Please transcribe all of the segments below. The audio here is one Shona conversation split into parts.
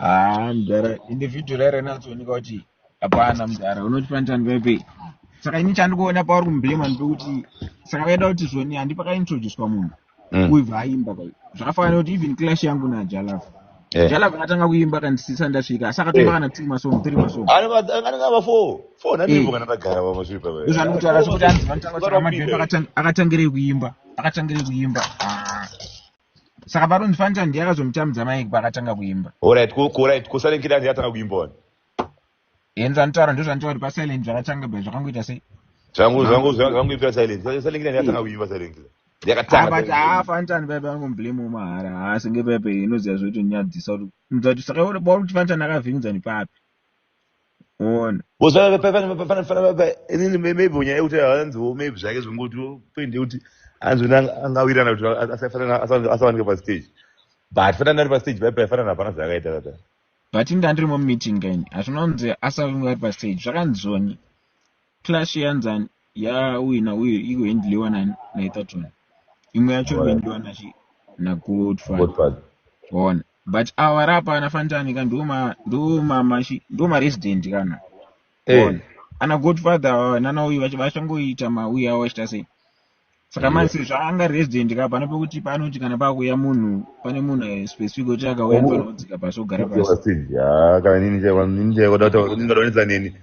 Haa mdara individual ere natsooneka kuti hapana mdara unoti panitani paipi saka ini chandikuona pauri kumbema ndipekuti saka vaida kuti zvoni handi pakaintroducwa munhu mm. kuibva aimba kai zvakafanana kuti even clash yangu najalafu eh. jalafu akatanga kuimba kandisisa ndasvika saka eh. toimba kana two masong three masongzvanokutaura zvekuti anzivanotaura kuti amadhepakatangirei kuimba akatangirei kuimba ah. saka paronzi fanita ndiye akazomutambidza maiki paakatanga kuimba orit orit kusilent kid anzi atanga kuimba wani enzi anotaura ndo zvanditaura kuti pasilent zvakatanga bva zvakangoita sei zvanguipira silent silent kid anzi atanga kuimba silent kid yakatangabut haa fanitani paipa angomublame womahara haa senge paipa inoziva zvoitonyadzisa kuti mudza kuti saka bauri kuti fanitani akavhiringidzani papi One. Because fana fana fana fana fana inini maybe nyaya yekuti hanziwo maybe zvake zvingoti point yekuti hanzi wena angawirana kuti asafanana asawanika pa stage. But fana ndari pa stage pai pai fana hapana zvakaita kata. But inda ndiri mu meeting kaini. Hazvinonzi asave ngari pa stage. Zvakanzoni. clash yanzani yawina uye ikuhendliwa naetherton imwe yacho ikuhendliwa nagodfad ona but awa vari apa ana fantani ka ndomamashi ndomaresident kana eh. ona ana godfather awa nana uyu vachangoita mauya awo vachita sei saka manje sezvo anga resident ka pane pekuti paanoti kana pakuuya munhu pane munhu specific wekuti akauya anofanira kudzika pasi ogara pasi kana nini chaikwadataonisa neni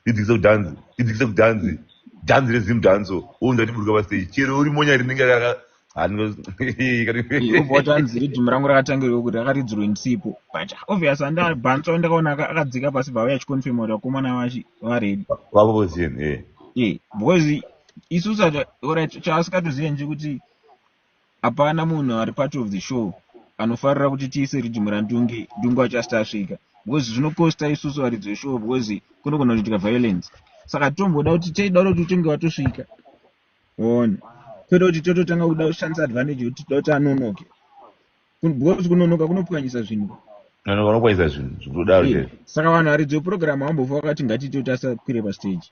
ndidzikise kudhanzi ndidzikise kudhanzi dhanzi rezim dhanso ounza tiburuka pasteji chero uri monya rinenge anotanzi ridhimu rangu rakatangirwa kuti rakaridzirwe ndisipo but obvious andabhanso ndakaona akadzika pasi bva vaya chiconfirma kuti vakomana vachi varedi vavozien e eh. eh, because isu sacha orit chaasikatozive nje kuti hapana munhu ari part of the show anofarira kuti tiise rijimura ndunge ndunge achasiti asvika because zvinokosta isusu varidzi veshow because kunogona kuitika violence saka tomboda kuti teida kuti utonge watosvika one kwete kuti tototanga kuda kushandisa advantage yekuti toda kuti anonoke Because kunonoka kunopwanyisa zvinhu. Kunonoka kunopwanyisa zvinhu zvikudaro chete. Saka vanhu haridzo program hambofa vakati ngatiite kuti asakwire pa stage.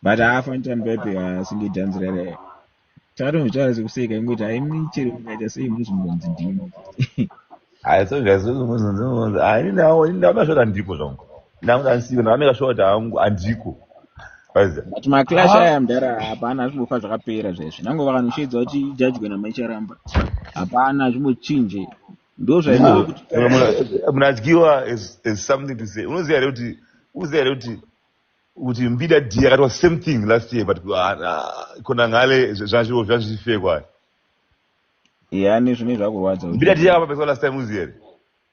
But haafa ntani pepe asinge dance rere. Takatomutaura sekuseka ingoti haimi chero mukaita sei munozongonzi ndimi. Hayi so guys munozonzi munozonzi hayi ndawo ndawo ndazvota ndipo zvongo. ndanga ndisiyo ndanga ndikasvika kuti hangu handiko but maclash aya mdara hapana azvimbofa zvakapera zvaizvi nango vakanoshedza kuti ijajwe nama icharamba hapana zvimbochinje ndozvamunadyiwa as something to say unoziva here kuti unoziva here kuti kuti mbida d akatwa same thing last year but ah, ah, kona ngale zvanzviwo zvanzvifekwa yani zvine zvakurwadza mbida d akapapeswa last time uziva here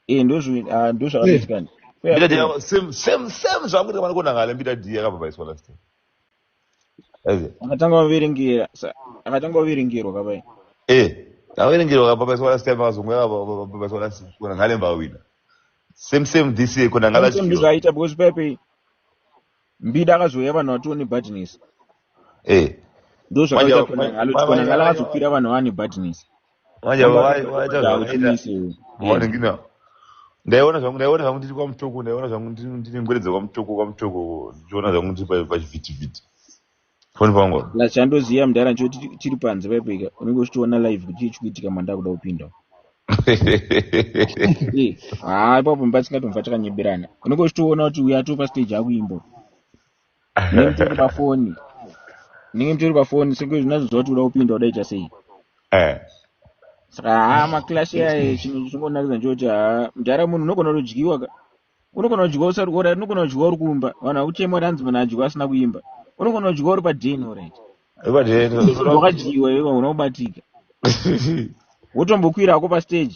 eh ndozvi ah ndozvakatoitika ni mbida dia same same same zvakuita mwana kona ngale mbida dia kababaiswa last time azi akatanga kuviringira akatanga kuviringirwa kabai eh akaviringirwa kababaiswa last time akazomwa kababaiswa last time kona ngale mbawina same same this year kona ngala same zvaita because pepe mbida akazouya vanhu vatione badness eh ndozvakaita kona ngala kona ngala akazopira vanhu vane badness manje Somebody vai- vaita somebody zvavakaita hautimiss iwe. Yes. mawaningina ndaiona zvangu ndaiona zvangu ndiri kwamutoko ndaiona zvangu ndiri ndiri ngwere dzekwamutoko kwamutoko ndichiona zvangu ndiri pa- pachivhitivhiti foni pangu apa. Plus chandoziva mudhara ncho tiri tiri panze paipo ika unenge uchitoona live kuti chii chikuitika manda kuda kupinda. Eh, haa ipapo mba tisingatomva takanyeberana. Unenge uchitoona kuti uyu atova stage akuimba. ndinenge nditori pafoni ndinenge nditori pafoni sekuti zvinazoziva kuti uda kupinda udaita sei eh. saka haa maclash yaye chinhu chingonakidza ndokuti haa mdhara munhu unogona kudyiwa ka unogona kudyiwa usati orit unogona kudyiwa uri kumba vanhu vakuchema kuti hanzi munhu adyiwa asina kuimba unogona kudyiwa uri paden orit wakadyiwa iwe unobatika wotombokwira hako pastage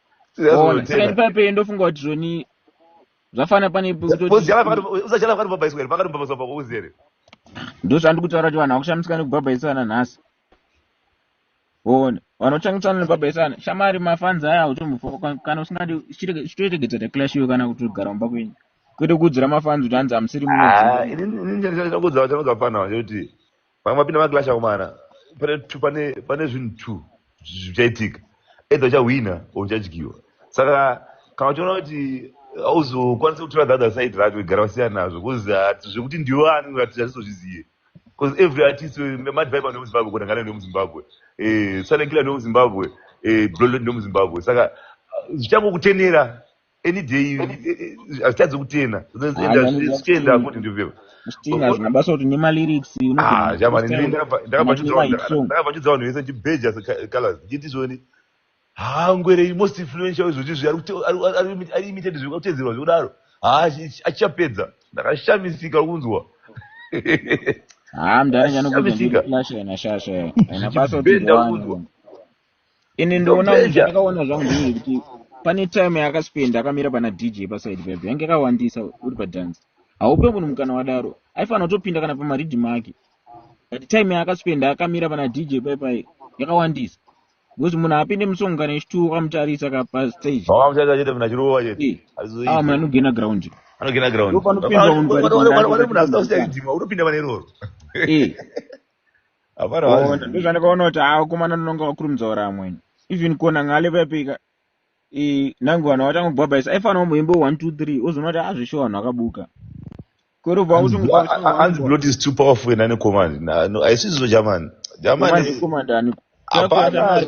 paipeyo ndofunga kuti zvoni zvafana pane ndozvandiri kutaura kuti vanhu vakushamisika nekubhabhaisana nhasi one vanochangitsana nekubhabhaisana shamari mafanzi aya utombokana usingadi chitoitegedza taclash iwe kana kuti ugara mumba kwenyu kwete kuudzira mafanzi kuti hanzi hamusiri munokuudza kuti vamwe vapinda maglash akomana pane zvinhu two zvichaitika either uchahwina or uchadyiwa saka kana uchiona kuti auzokwanisa kutora the other side racho igara vasiyana nazvo bcause ah, zvekuti ndiwo ani uratidza azvizozvizive bcause every artist eh, madhiviba ndomuzimbabwe kunangana ndomuzimbabwe eh, salekila ndomuzimbabwe eh, blolod ndomuzimbabwe saka ah, zvichangokutenera any day hazvitadzi kutena zvichienda kuti ndivyo zvichitinga hazvina basa kuti nemalyrics ndakabachudza vanhu vese ndibheja colors ndichiti zvoni hangwere most influential izvozvi zvi ari imited zviri kutedzerwa zvekudaro haa achichapedza ndakashamisika kunzwa haa mdhara nyanokuti ndiri flash ena shasha ena basa kuti ende ndoona zvandakaona zvangu ndizvo kuti pane time yakaspenda akamira pana dj paside pepe yange yakawandisa uri padance haupe munhu mukana wadaro aifanira kutopinda kana pamaridhi make but time yaakaspenda akamira pana dj paipai yakawandisa because munhu apinde musong kana echituwo kamutarisa ka pastage munhu anogena ground anogena ground panopinda munhu panopinda munhu asina kuchaidzimwa unopinda pane iroro ndozvandakaona kuti haa komana ndinonga wakurumidza ura amweni even kona ngale vapika nangu vanhu vatanga kubhabhaisa aifanira kumboimba one two three ozoona kuti azvishowa vanhu vakabuka kwerovaanzi blood is too powerful ena nekomani aisizvo jamani jamani hapana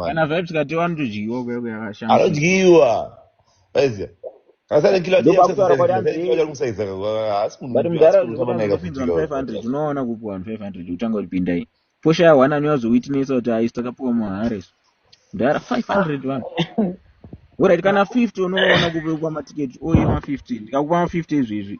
kana vibes katiwa anotodyiwa kuya kuya kashama anodyiwa aiziva asati kila dia kusaiza haasi munhu but mudhara unoona kupinda 500 unoona kupuwa 500 kutanga kupinda iyi posha one anyazo witness kuti ayi takapuwa mahare mudhara 500 vanhu Alright kana 50 unoona kupuwa matiketi oye ma 50 ndikakupa ma 50 izvezvi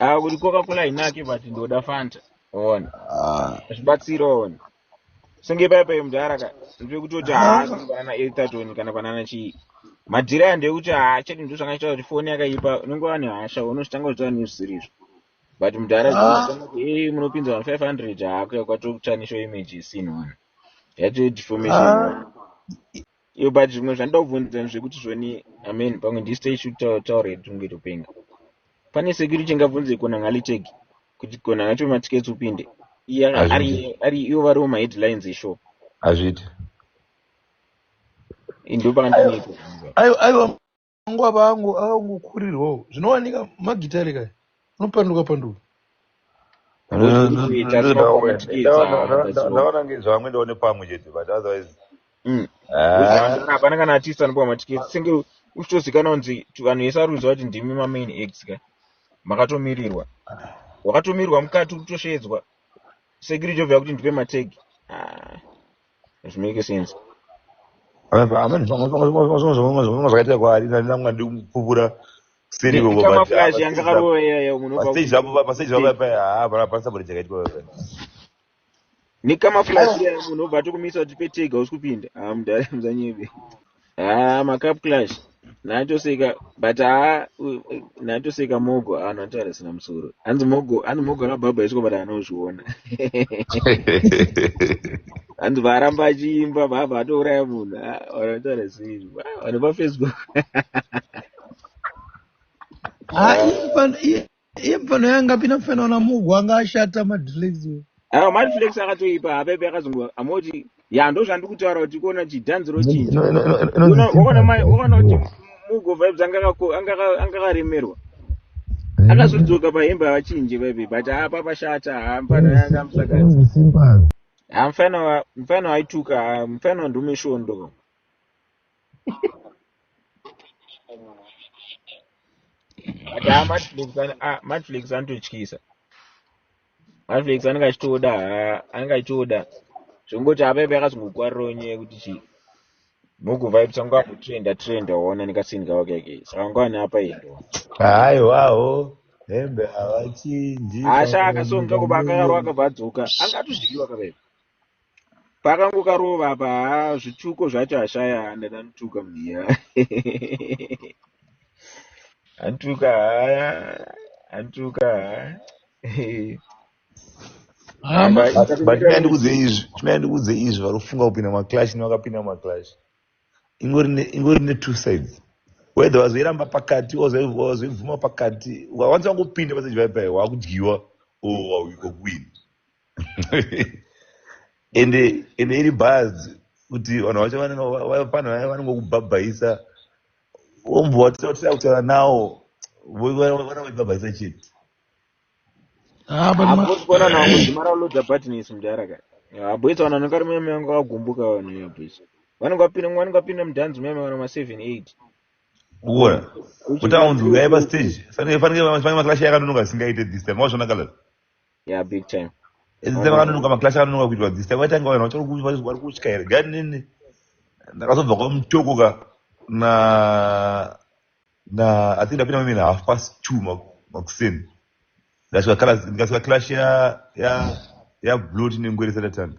Ah, kuti coca cola inake but ndoda fanta ona ah. zvibatsira ona senge paya paye mudhara ka ndiri kutoti haasi ah. vana etatoni kana vanana chii madhiri aya ndeyekuti haachadi ndo zvanga chitaura kuti foni yakaipa unenge wani hasha unozvitanga kuzvitaura nezvisirizvo but mudhara e munopinza vanhu five hundred haakuya kwatokutsvanisho image isinona yatodeformation yo but zvimwe zvandida kubvunza zvekuti zvoni i mean pamwe ndiste ichitaura iri tinonge topenga pane security ingabvunze kona ngaliteg kuti kona ngacho matickets upinde ari ivo variwo maheadlines eshow hazviiti indopakandaneiko aiwa Vangu ava vangu avangokurirwawo zvinowanika magitare kaya anopanduka panduka ndaona ngezvamwe ndaone pamwe chete but otherwise mm. ah. hapana kana artist anopiwa matiketi senge uchitozikanwa kunzi vanhu vese ari kuziva kuti ndimi mamain ex ka makatomirirwa wakatomirirwa mukati uri kutoshedzwa sekiri jovhera kuti ndipe mategi ah. It make sense. Amene zvimwe zvakaita kwaari ndanga ndikupupura seri ikoko Kama flash yangu akarova iya iya unopa. pastage zvapo pastage zvapo paya haa pana pana saburi chakaitwa paya Nikama flash iya munhu obva atokumisa kuti petega usikupinda. Ah mudhara muzanyebe. haa ah, macup clash natoseka but haa natoseka mogo aa ah, natoara sina musoro hanzi mogo hanzi mogo akabhabha isiko but anozviona hanzi vaaramba achiimba bhabha atouraya munhu ah, vanataura sei vanhu pafacebook Iye mfana yanga pina mfana wana mugu anga ashata madrinks. Ah, mad flex akatoipa apepe akazongo amoti ya ndozvandiri kutaura kuti kuona chidhanzi rochinja No, no, no, no, no, Una- wakaona mai no, wakaona kuti no. mugo vibes anga ako- anga aka- anga akaremerwa Anonzi akazodzoka pahembe avachinje vaive but haa papashata haa mfana anonzi yanga simba, amusakadzi anonzi simba. haa mfana wa- mfana waituka haa mfana ndomeshondo haa matflix anototyisa matflix anenge achitoda haa anenge achitoda zvongoti apa ipa yakazongokuwarirawo nyaya yekuti chii muguvaips angu akutrenda trenda waona nekasini kavo kake saka angu ane apa endo haiwawo hembe havachinji asha akasonga kuba akarwa akabva adzoka anga atozvidiwa kavaipa pakango karova apa haa zvituko zvacho ashaya handada ntuka mhiya antuka haya antuka haabatinai ndikudze izvi tinai ndikudze izvi vari kufunga kupinda maclash nevakapinda maclash ingori ne two sides whether wazoiramba pakati wazoibvuma pakati wanzi wangopinda paseji pai pai wakudyiwa o oh, wauiko kuwini ende ende iri bhaz kuti vanhu vacho vanopano vanongokubhabhaisa ombo watisatisa kutaura nawo vanoibhabhaisa chete aposikona nawo kuzimara ulodza buttonisi mudhara ka aboisa vanhu vanenge ari muyame vanga vagumbuka vanhu yaboisa vanenge vapinda vanenge vapinda mudhanzi muyame vana maseven eight uona kuti aunzi uyai pastage fanenge maklashi yakanonoka asingaite this time wazvona kalaa yeah big time ezita vakanonoka maclash akanonoka kuitwa this time vaitanga vanhu vachari kutya here gani nini ndakazobva kwamutoko ka na na i think ndapinda mimene half past two makuseni ndikasvika clash ya ya ya blot nengwere satatanga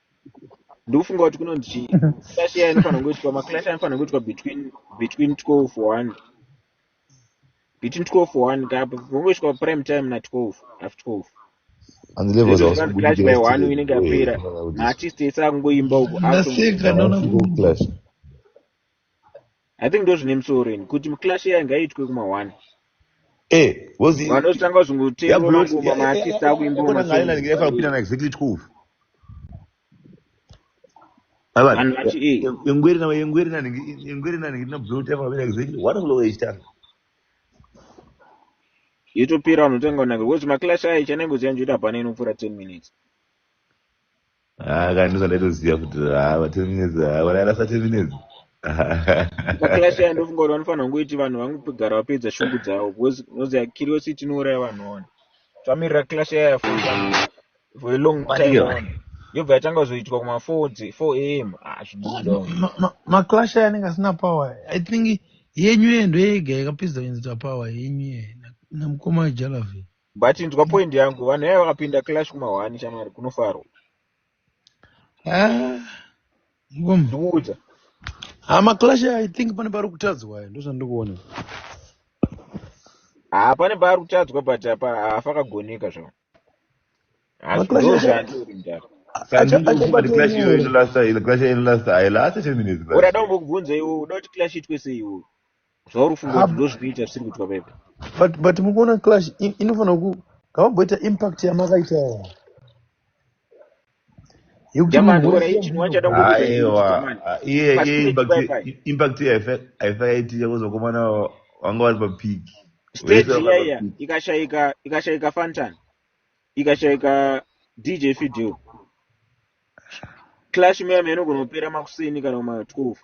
ndikufunga kuti kunonzi chi clash iya inofanira kunge ichitwa maclash anofanira kunge ichitwa between between 12 for one between 12 for one kapa vongoitwa prime time na 12 half 12 and levels zvinhu zvikanzi clash by one inenge yapera maartist ese akungoimba uko Ndaseka, no, no. clash I think ndozvine musoro ini kuti clash iya ngaitwe kuma one eh was vanotanga zvingotengwa mangoma maartist akuimba masoainaningirafanopindana exactly 12 yotopera vanotanga kunaka because maclash ayo chanengoziva njoita hapana inopfuura 10 minutes Ah, kana ndizvo ndaitoziva kuti ah, va ten minutes ah, vanairasa ten minutes Makilashi aya ndofunga kuti vanofanira kungoiti vanhu vangogara vapedza shungu dzavo because unoziva curiosity inouraya vanhu wani. Tamirira kilashi yaya for for a long time Maningi. wani. Yobva yatanga kuzoitwa kuma 4 dzi- 4 am. Ah, zvidii dog. Ma- ma- maclash aya anenge asina power i think yenyu yeye ndoyega yakapedza kuenzita power yenyu yeye na- namukoma jalavi but ndwa point yangu vanhu yaya vakapinda clash kumahwani shamwari kunofarwa ah, ndikuudza ha ah, maclash i think pane pari kutadzwa ayo ndozvandikuona ha ah, pane paari kutadzwa but apa hafa kagoneka zvavo urada umbokubvunza iwo uda kuti clash itwe seiwo zvauri kufunga kuti ndozvinoita zvisiri kuitwa pepe but but mukuona clash inofanira ku ngavamboita impact yamakaita impact yaifakaitika kuzokomana vanga vari papiki stage iyaiya ikashaika ikashaika fantan ikashaika dj fideo Clash meme inogona kupera makuseni kana ma 12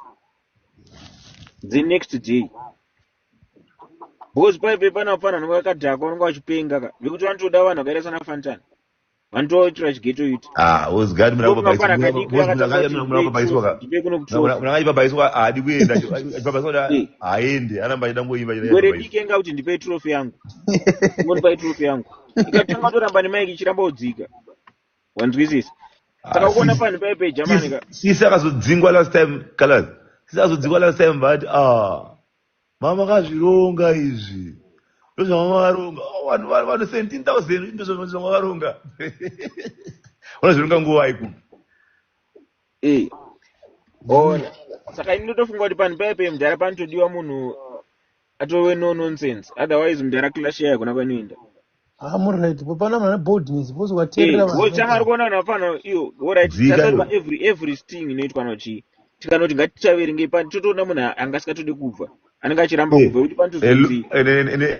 the next day because paive pana mfana anenge akadhakwa anenge achipenga ka vekuti vanotoda vanhu vakaita sana fantan vanotoitira chigeto yuti ah, murangaipabaiswa haadi kuenda haende anamba achida ngoimba werediki enga kuti ndipe trofe yangu ngonipai trofe yangu ikatanga toramba nemaiki ichiramba kudzika wanzwisisa ah, saka kuona pani paipe jamani ka sisi akazodzingwa last time kalas sisi akazodzingwa last time vati a ah, mama kazvironga izvi ndozvamama varonga oh, vanhu vanhu 17000 ndozvamama varonga unozvironga nguva iku eh. ona saka ini ndotofunga kuti pani paipe mdhara panotodiwa munhu atove no nonsense otherwise mudhara clash yayo kuna kwainoenda ah, muright pano mana boldness bcause wateerera eh, vanhu chamari kuona vanhu vapano iyo orit tasaripa every every sting inoitwa nochii tikanoti ngatichaverengei pani totoona munhu angasikatode kubva anenge achiramba eh, kubva kuti pani tozii